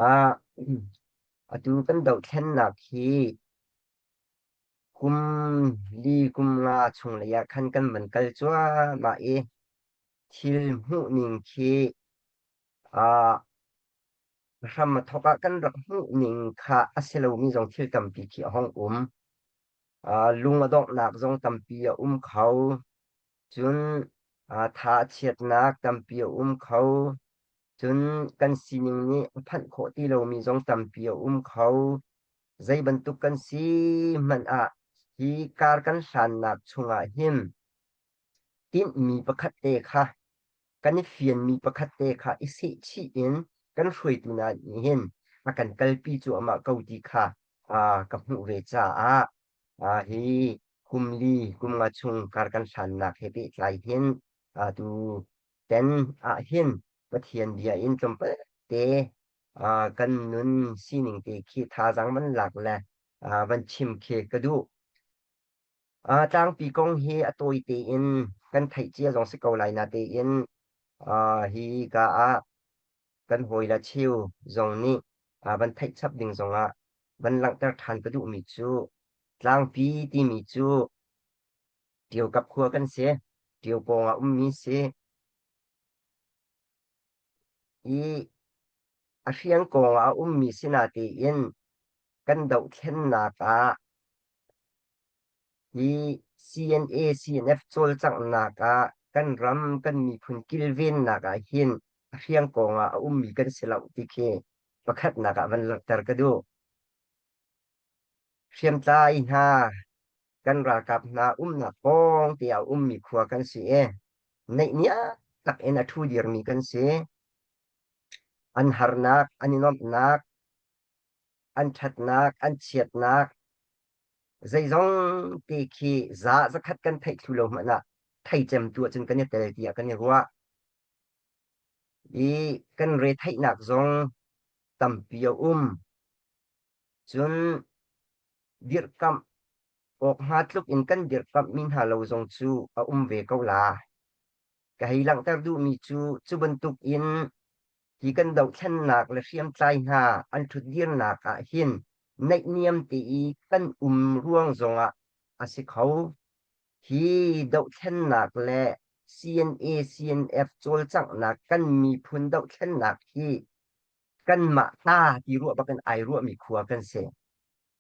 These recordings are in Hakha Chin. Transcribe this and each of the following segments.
Ah, atu kan dohthlennak hi kum li kum nga chunglei ah khan kan van kal cuahmah i thil hmuhning khi ah hram a thawk ah kan rak hmuhning kha a si lomi zong thil tampi khi a hong um. Ah, lung a donghnak zong tampi a um kho. Cun aa thachiatnak tampi a um kho. Cun kan sining nih a phanh khawh ti lomi zong tampi a um kho. Zei bantuk kan si hmanh ah hi kar kan hlannak chungah hin tinhmi pakhat te kha kan i fianmi pakhatte kha i sehchih in kan hruaitu hna nih hin a kan kalpi cu amah ko ti kha aa ka hmuh ve caah aa hi kum li kum nga chung kar kan hlannak he pehtlai hin atu ten ah hin Pathian bia in tlawmpalte ah kan nun sining te khi thazaang van lak le van chim khi ka duh. Uh, tlangpi kong hi a tawi tein kan theih cia zong si ko lai na tein uh, hi ka ah kan hawi le chiu zong nih uh, van theih chap ding zong ah van langhter than ka duh mi cu tlangpi timi cu tio kap khua kan si tio pawng ah um mi si i a hriangkong ah a ummi sinah tiin kan dohthlennak ah hi CNA CNF cawlcanghnak ah kan ram kan miphun kilvennak ah hin a hriangkong ah a ummi kan si loh ti khi pakhatnak ah van langhter ka duh. Hriamtlai hna, kan ralkap hna umnak pawng te ah ummi khua kan si i, neih niah tak in a ṭhu dirmi kan si. An harnak, an i nuamhnak, an ṭhatnak, an chiatnak, zeizong te khi za zakhat kan theih thlu lo hmanh ah, thei cemtu ahcun kan i tel tiah kan i ruah. i kan retheihnak zong tampi a um. Cun dirkamh awk hnga tluk in kan dirkamhmi hna lo zong cu a um ve ko la. Ka hei langhter duhmi cu cu bantuk in hi kan dohthlennak le hriamtlai hna an ṭhutdirnak ah hin naihniam te i kan um ruang zongah a si kho. Hi dohthlennak le CNA-CNF cawlcanghnak kan miphun dohthlennak hi kanmah hna ti ruah bak in ai ruahmi khua kan si.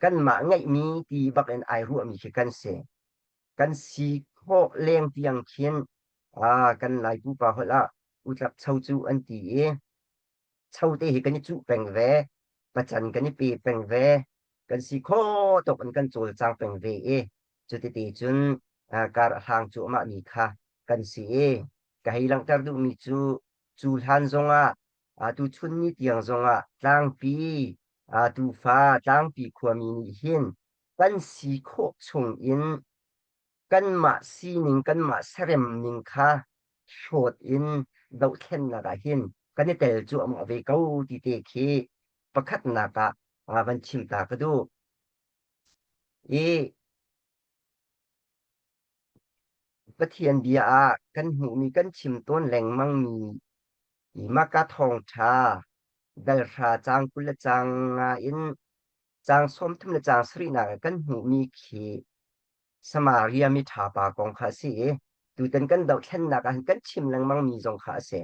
Kanmah ngeihmi ti bak in ai ruahmi khi kan si. Kan si khawh leng tiang khin, ah kan lai pupa holh ah utlap cho cu an ti i, chote hi kan i cuh peng ve, pacan kan i pe peng ve, kan si khawh tuk in kan cawlcang peng ve i cutiti cun karhlang cu amah ni kha kan si i ka hei langhter duhmi cu cu hlan zongah tuchun ni tiang zongah tlangpi tufa tlangpi khuami nih hin kan si khawh chung in kanmah sining, kanmah serem ning kha hlawt in dohthlennak ah hin kan i tel cu a mah ve ko ti te khi pakhatnak ah ah van chim ta ka duh. I Pathian bia ah kan hmuhmi kan chim tawn lengmangmi i maka thawngtha dalhra cang kul le cang nga in Caang sawmthum le caang sarihnak ah kan hmuhmi khi Samaria miṭha pa kong kha a si i tutan kan dohthlennak ah hin kan chim lengmangmi zong kha a si.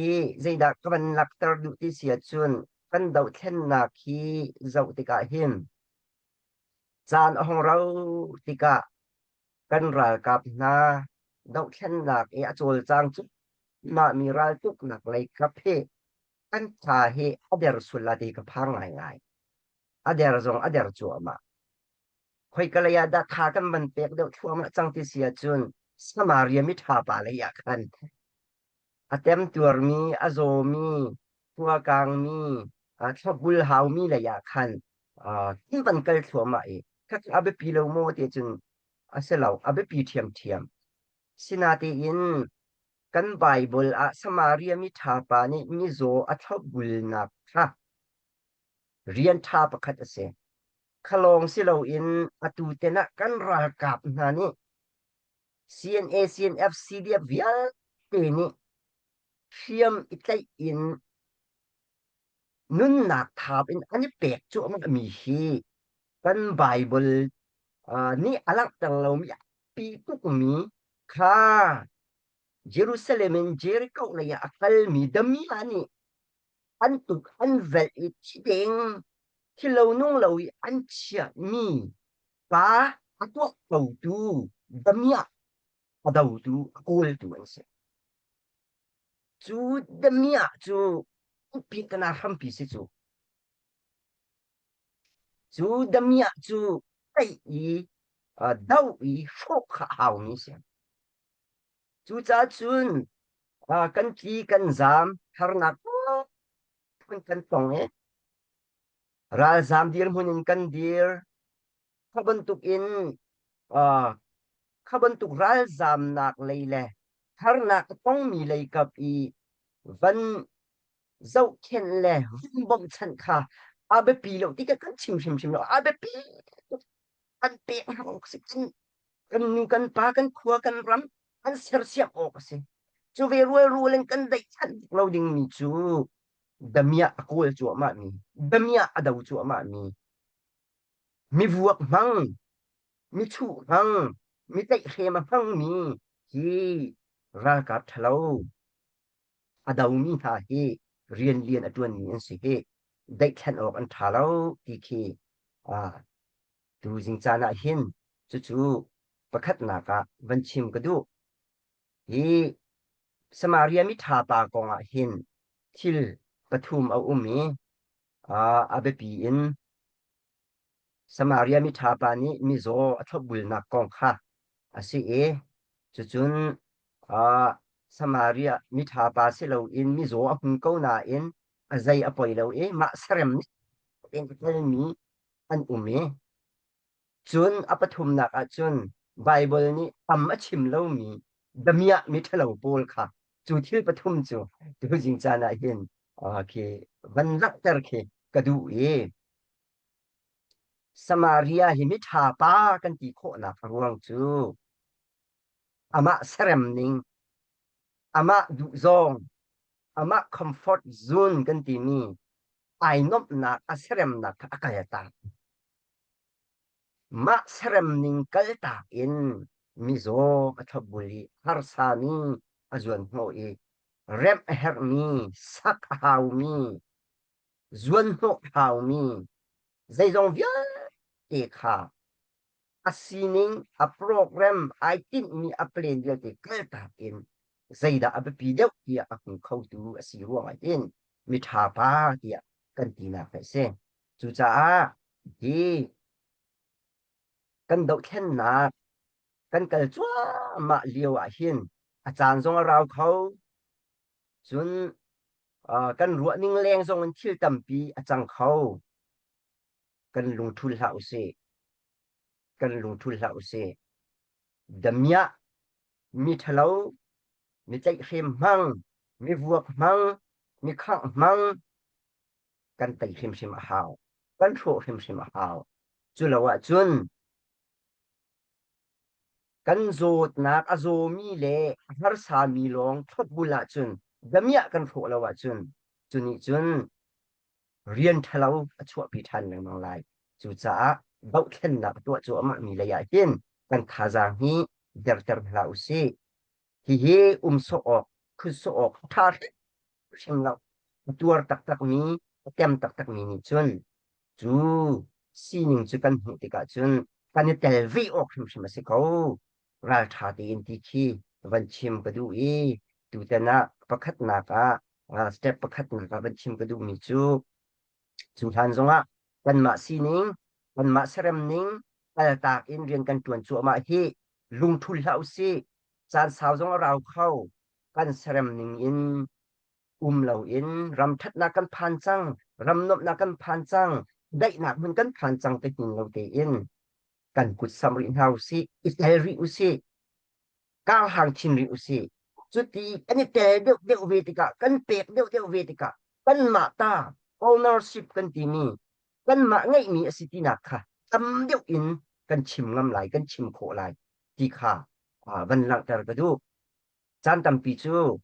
I zeidah ka van langhter duh ti si ahcun kan dohthlennak hi zoh tikah hin caan a hung rau tikah kan ralkap hna dohthlennak i a cawlcang cu mah mi raltuknak lei kap hi kan tha hi a der sul a ti ka phang ngaingai a der zong a der cuahmah khoi kalay ah dah tha kan man pek deuh thluam ah cang ti sia cun samaria mi tha pa lei ah khan a tem tuarmi a zawmi tuakangmi thlabul haumi lei ah khan ti van kal thluam ah i kak a biapi lo maw ti cun a si lo a biapi thiam thiam Sinatein kan Baibal ah Samaria miṭha pa nih mizaw a thlopbulnak kha rian ṭha pakhat a si. Khalawng si loin atutein ah kan ralkap hna nih CNA CNF CDF vialte nih hriam i tlaih in Nunnak thap in an i pek cuahmah mi hi kan Baibal ah nih a langhter lomi a pi tukmi kha Jerusalem in Jericho lei ah a kalmi damiah nih an tuk an velh i thi ding thi lo nung lo i an chiahmi pa a tuaktotu damiah a dotu a kawltu an si. Cu dami ah cu upi tana hrampi si cu. Cu dami ah cu teih i do i hrawh kha haumi a si. Cucaah cun kan tli, kan zaam, harnak phun kan tong i ralzaam dirhmun in kan dir. Kha bantuk in uh, kha bantuk ralzamnak lei le harnak a tongmi lei kap i van zohkhenh le run bawmhchanh kha a biapi lo ti ka kan chim hrimhrim lo a biapi kan pek hna awk si kan kan nu kan pa kan khua kan ram kan sersiam awk a si cu ve rual rual in kan daihchanh lo dingmi cu damiah a kawl cuahmah mi damiah a do cuahmah mi mivuak hmang, michuh hmang, mitlaihhrem a hmangmi hi ralkap ṭhalo, a domi hna hi rian lian a ṭuanmi an si hi daihthlan awk an ṭha lo ti khi tu zing caan ah hin cucu pakhatnak ah van chim ka duh. Hi Samaria miṭha pa kongah hin thil pathum a um i ah a biapi in Samaria miṭha pa nih mizaw a thlopbulnak kong kha a si i cucun ah Samaria miṭha pa si loin mizaw a hmu ko nain a zei a poi lo i mah serem nih in tel mi an um i Cun a pathumnak ah cun Baibal nih hram a chim lomi damiah miṭhalo pawl kha cu thil pathum cu tuzing caan ah hin ah khi van langhter khi ka duh i Samaria hi miṭha pa kan ti khawhnak ruang cu amah serem ning, amah duhzawng, amah comfort zone kan timi ai nuamhnak a seremnak kha a kaltak. Mah serem ning kaltak in mizaw a thlabul i harsa nih a zuanhnawh i remh a herhmi, sak a haumi, zuanhnawh haumi zeizong vialte kha a sining, a program ai tinhmi a plan vialte kaltak in zeidah a biapi deuh tiah a hmu khotu a si ruang ahhin miṭha pa tiah kan tinak hi a si. Cucaah hi kan dohthlennak kan kal cuahmah lio ah hin a caan zong a rau kho. Cun uh, kan ruahning leng zong in thil tampi a cang kho. Kan lungthul hlah usih. Kan lungthul hlah usih. Damiah mi ṭhalo, mi tlaihhrem hmang, mi vuak hmang, mi khangh hmang, kan tei hrimhrim a hau. Kan hrawh hrimhrim a hau. Cu lo ahcun kan zawtnak a zawmi le a harsami lawng thlawt bul ahcun damiah kan hrawh lo ahcun cu nih cun rian ṭhalo a chuahpi ṭhan lengmang lai. Cucaah dohthlennak tuah cu amah mi lei ah hin kan thazaang hi derter hlah u sih. Hihi um sawh awk, khun sawh awk, ṭha hrim lo, tuar taktakmi, tem taktakmi nih cun cu sining cu kan hmuh tikah cun kan i tel rih awk hrimhrim a si ko. Ralṭha tein ti khi van chim ka duh i tutan ah pakhatnak ah, step pakhatnak ah van chim ka duhmi cu Cu hlan zongah kanmah sining, kanmah seremning, kaltak in rian kan ṭuan cuahmah hi lungṭhul hlah usih. Caan sau zong a rau kho. Kan seremning in um loin ram ṭhatnak kan phan cang, ram nuamhnak kan phan cang, daihnak hmun kan phan cang te hnin lo tein kan kut sam rih hna usih, i tel rih usih. karhang chin rih usih. Cuti an i tel deuh deuh ve tikah, kan pek deuh deuh ve tikah, kanmah ta ownership kan timi, kanmah ngeihmi a si tinak kha tam deuh in kan chim ngam lai, kan chim khawh lai ti kha uh, van langhter ka duh. Caan tampi cu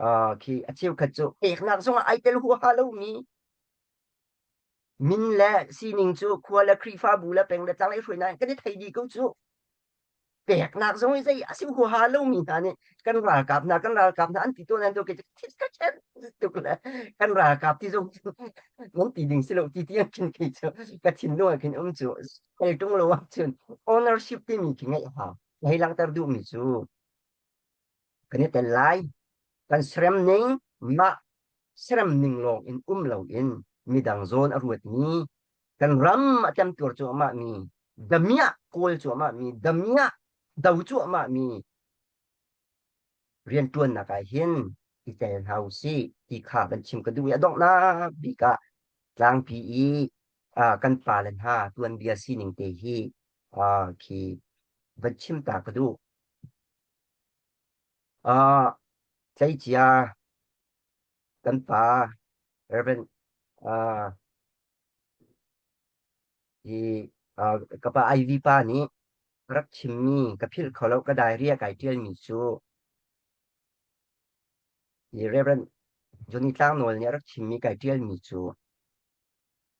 uh, khi a cheukhat cu peknak zongah ai tel huha lomi Min le sining cu khua le Khrihfabu le peng le tlang i hruai nain kan i thei dih ko cu. Peknak zong i zei a si huaha lomi hna nih kan ralkap hna kan ralkap hna an ti to nan to ke thit ka chen tuk le kan ralkap ti zong nan ti ding si lo ti ti an kin khi cu ka thin nu khin um cu el tung lo ah cun ownership timi khi ngeih ha lai langter duhmi cu kan i tel lai. Kan serem ning, mah serem ning lawng in um loin midang zawn a ruatmi, kan ram a temtuar cuahmah mi, damiah kawl cuahmah mi, damiah do cuahmah mi riantuannak ah hin i tel hna u sih ti kha kan chim ka duh i a donghnak bik ah tlangpi i uh, kan pale hna tuanbia sining te hi uh, khi van chim ta ka duh Ah, tleicia kan pa Reverend ah, i ah, ka pa IV pa nih rak chimmi ka philh kho lo ka diarrhea kai ṭialmi cu i Reverend Johnny Tlang Nawl nih a rak chimmi kai ṭialmi cu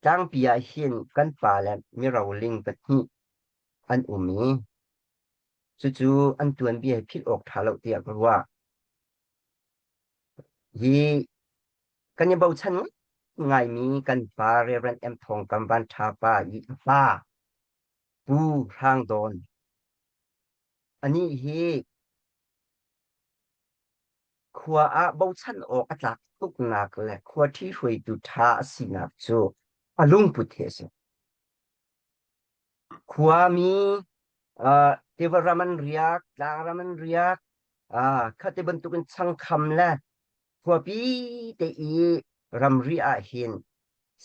tlangpi ah hin kan pa le miro ling pahnih an um i Cucu an tuanbia hi philh awk ṭha lo tiah ka ruah. Hi kan i bochan ngaimi kan pa Reverend M. Thawngkam Van Ṭha pa i a pa Pu Hrang Dawn. Anih hi khua ah bochan awk a tlak tuknak le khua ṭhi hruaitu ṭha a sinak cu a lungput hi a si. Khuami uh, tiva ram an riak, tlang ram an riak, uh, khati bantukin changkham le khuapi te i ramri ahhin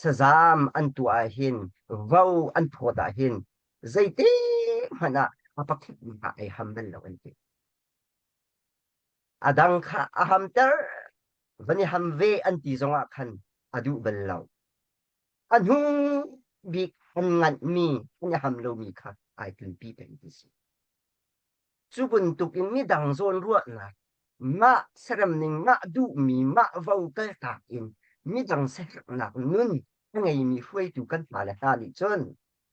sazam an tuah ahhin vo an phawt ahhin zeiti hmanh ah a pakhat hna ei ham bal lo an ti. A dang kha a hamter van i ham ve an ti zongah khan a duh bal lo. A hnu bik an nganhmi, an i ham lomi kha ai tlunpi peng ti si. Cu bantuk in midang zawn ruahnak, mah seremning, mah duhmi, mah vokaltak in midang sernak nun a ngeimi hruaitu kan hna le hna nih cun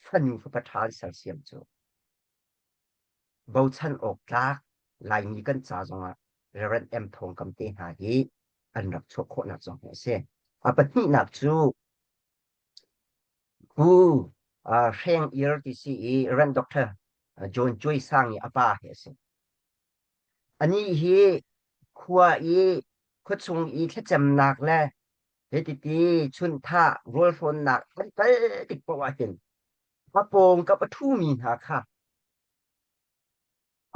fanu fapa ṭha sersiam cu Bochan awk tlak Laimi kan ca zongah Reverend M Thawngkam te hna hi an rak chuah khawhnak zong hi a si. A pahnihnak cu Pu uh, Hreng Ir ti si i Reverend Dr. uh, John Choi Sang i a pa hi a si. Anih hi khua i khuachung i thlacamnak le hiti ti chuntha rualhrawnnak kan tal tik paoh ahhin a pawngkap a ṭhumi hna kha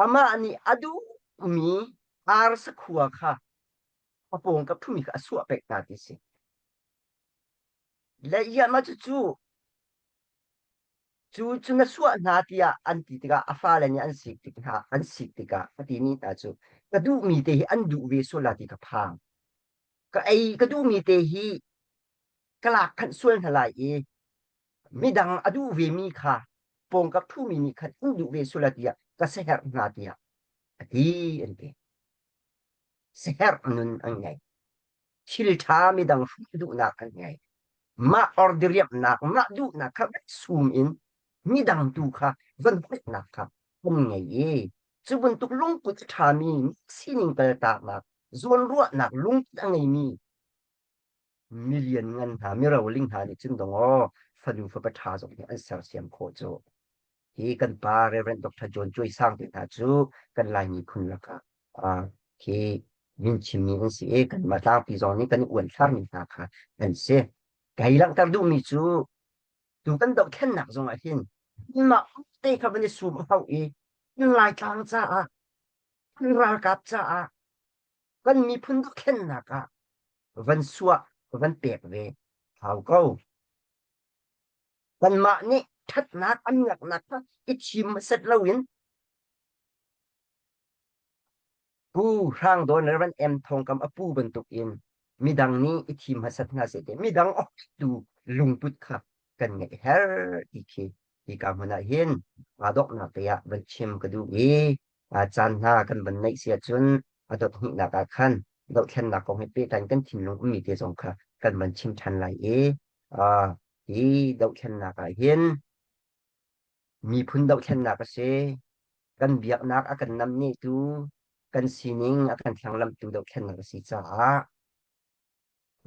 amah nih a duhmi Arsa khua kha a pawngkap ṭhumi kha a suah pek hna ti a si. Le yamah cucu cu cu na suah hna tiah an ti tikah a fale nih an sik tik hna an sik tikah a ti mi hna cu ka duhmi te hi an duh ve sual la ti ka phang ka ei ka duhmi te hi ka lak khanh sual hna lai i midang a duh vemi kha pawngkam thumi nih khan in duh ve sula tiah ka seherh hna tiah a ti an ti seherh nun an ngei thilṭha midang duhnak an ngei mah ordiriamnak mah duhnak kha sum in midang tu kha van hoihnak kha an ngei i cu bantuk lungput a ṭhami sining paltaknak zawnruahnak lungput a ngeimi milianngan hna miroling hna nih cun dong aw fanu fapa ṭha zong nih an sersiam khawh cu. Hi kan pa Reverend Dr. John Cuai Sang te hna cu kan Laimi phun lakah ah hi min chimmi an si i kanmah tlangpi zong nih kan uanthlarmi hna kha an si. Ka i langhter duhmi cu tu kan dohthlennak zongah hin mah te kha van i sum a hau i Laitlang caah, ralkap caah kan miphun dothlennak ah van suah van pek ve hau ko. Kanmah nih thatnak an ngaknak kha i thim set loin pu hrang don le ran em thong kam apu bantuk in midang nih i thim hasat hna se te midang tu lungput kha kan ngeih her ti khi Hika hmun ah hin aa donghnak te ah va chim ka duh i caan hna kan van neih si ahcun a dot hnihnak ah khan dohthlennak kong he pehtlai kan thinlung ummi te zong kha kan van chim ṭhan lai i hi dohthlennak ah hin miphun dohthlennak a si kan biaknak a kan namnehtu kan sining a kan thlanglamtu dohthlennak a si caah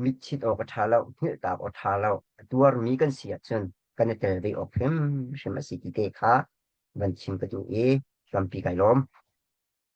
mitthit awk a ṭha lo, hngelhtak awk ṭha lo, a tuarmi kan si ahcun kan i tel ve awk hrimhrim a si ti te kha van chim ka duh i hrampi kai lawm.